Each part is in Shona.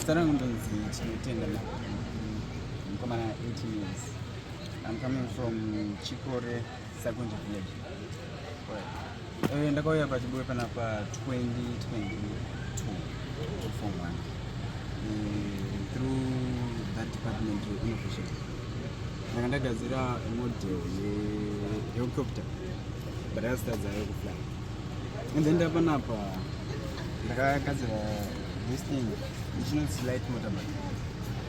Sara Ngondozi Chinotenda Mkomana 18 years. I'm coming from Chikore. Sakunje village. Eh, ndakauya pachibuwe panapa 2022 form 1 eh, through that department innovation ndanga ndagadzira model yehelicopter but yakasitadza yo kufly and then ndapanapa ndakagadzira this thing which notes light motorbike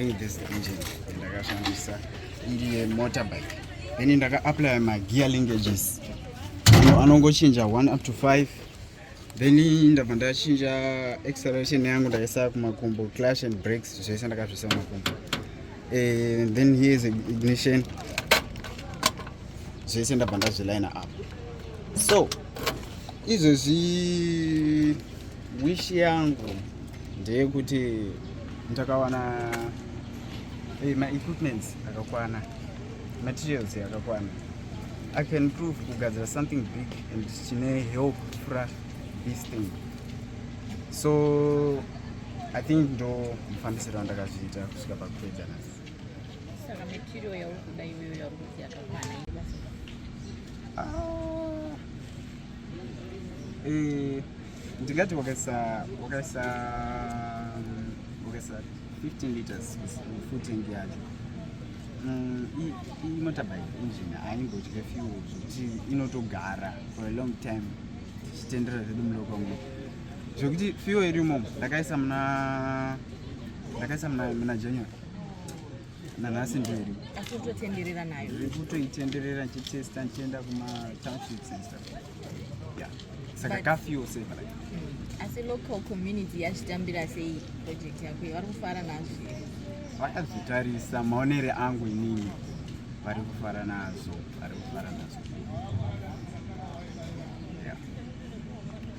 think this engine ndakashandisa iri yemotorbike then ndakaapply magear linkages anongochinja 1 up to 5 then ndabva ndachinja acceleration yangu ndaisa kumakumbo clash and breaks zvese ndakazvisa kumakumbo eh, then here is ignition zvese ndabva ndazviline up so izvezvi wish yangu ndeyekuti ndakawana eh, ma equipments akakwana materials akakwana I can prove kugadzira something big and chine help kufura this thing so i think ndo mufambisiro wandakazviita kusvika pakupedza nasi saka material yauri kuda iweyo yauri kuti yakakwana ah. eh, ndingati wakaisa wakaisa wakaisa 15 liters full tank yacho mm, imotorbike engine haimbodye fuel zvekuti inotogara for a long time tichitendera zvedu muloka mu zvekuti fuel iri imomo ndakaisa muna ndakaisa muna january nanhasi ndiyo iri asi utotenderera nayo kutoitenderera ndichitesta ndichienda kumatownship center Yeah. Saka But- kafi yose mara. asi local community yachitambira sei project yako iyi vari kufara nazvo here? Vakazvitarisa maonere angu inini vari kufara nazo, vari kufara nazo. Yeah.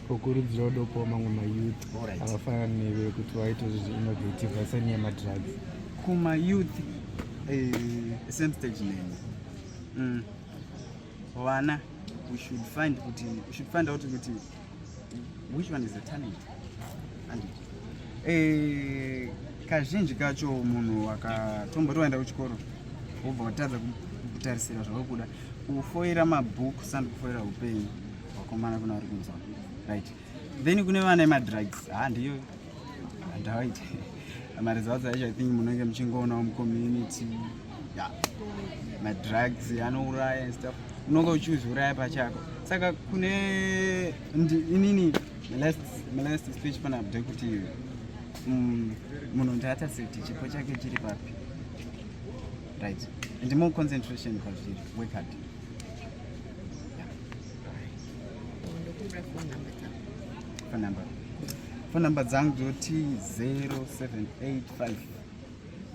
kukurudzira udopawo mamwe mayouth Alright. akafanana newe kuti waite zvinhu zvi-innovative asanyaya madrugs Kuma youth eh, same stage neni. Mm. vana we should find kuti we should find out kuti which one is the talent and eh kazhinji kacho munhu akatomboti waenda kuchikoro wobva watadza kutarisira zvauri kuda kufoira mabooks and kufoira upenyu hwakomana kuno ari kunzwa right then kune vana emadrugs ha ndiyo handawaite maresults acho i think munenge muchingoonawo mucommunity ya madrugs anouraya and stuff unonge uchiuzviuraya pachako saka kune inini last speech pana abde kuti mm, munhu ndaata safety chipo chake chiri papi right and more concentration pazviri work hard phone number phone number dzangu dzoti 0785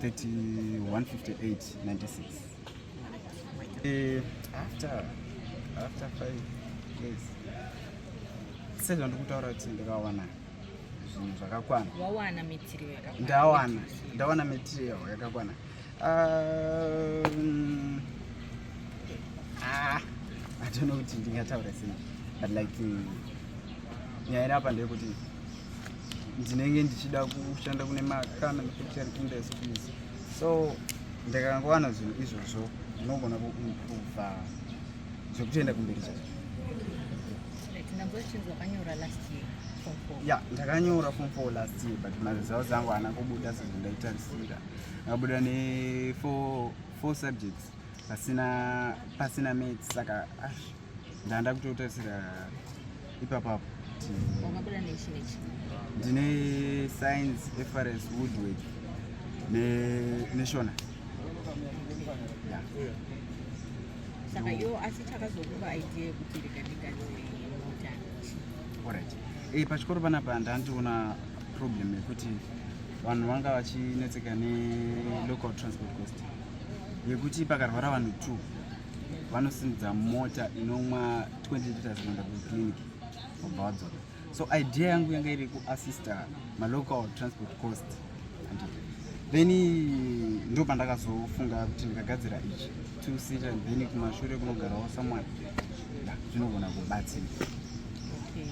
3158 96 eh, after after five days sezvandikutaura kuti ndakawana zvinhu zvakakwana ndawana ndawana material yakakwana Um, ah, I don't know kuti ndingataura sei but like nyaya iri apa ndeyekuti ndinenge ndichida kushanda kune makana nefactory industries so ndakangowana zvinhu izvozvo zvinogona kuimprova zvekutoenda kumberi chacho ya ndakanyora fom four last year but maresults angu haana kubuda sezvo ndaitarisira abuda ne four, four subjects pasina pasina maths saka ah, ndanda kutotarisira ipapapo ndine science efrs woodwork neshona saka iwo asi chakazokupa idea yekuti rikandikazimota orit e eh, pachikoro panapa ndandiona problem yekuti vanhu vanga vachinetseka nelocal transport cost yekuti pakarwara vanhu two vanosimudza mota inomwa 20 liters kuenda kuclinic vobva vadzoka so idea yangu yanga iri kuassista malocal transport cost then ndo pandakazofunga kuti ndikagadzira ichi two seater then kumashure kunogarawo someone zvinogona kubatsira okay.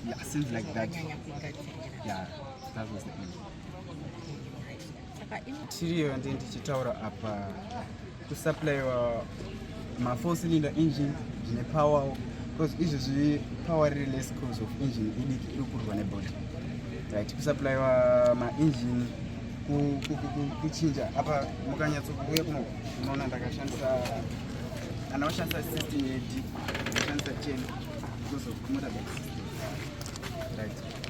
Yeah, seems like that. Yeah, that was the end. Tiriyo ndi ndichitaura apa kusupplywa mafour cylinder engine zvine power because izvi zvi power riri less cause of engine idiki iri kurwa nebody right kusupplywa maengine kuchinja apa mukanyatsokuuya kuno unoona ndakashandisa kana washandisa system yedi washandisa cheni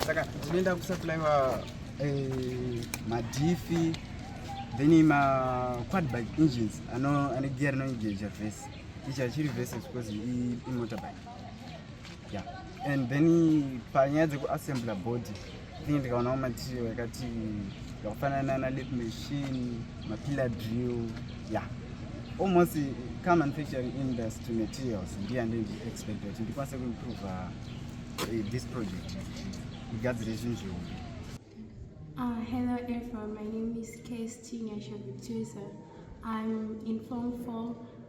saka tinoenda kusaplaiwa eh, madhifi then maquadbike engines ane gear rinoengeja vese ichi achiri vese because imotorbike yeah and then panyaya dzekuassembler body Thing ndikaona mumatiyo yakati yakafanana na lip machine, mapillar drill, yeah. Almost car manufacturing industry materials ndiye andindi expect kuti ndikwanise kuimprove eh, this project igadzire zvinhu zvihombe. Uh, hello everyone, my name is KST Nyasha Victoria. I'm in Form 4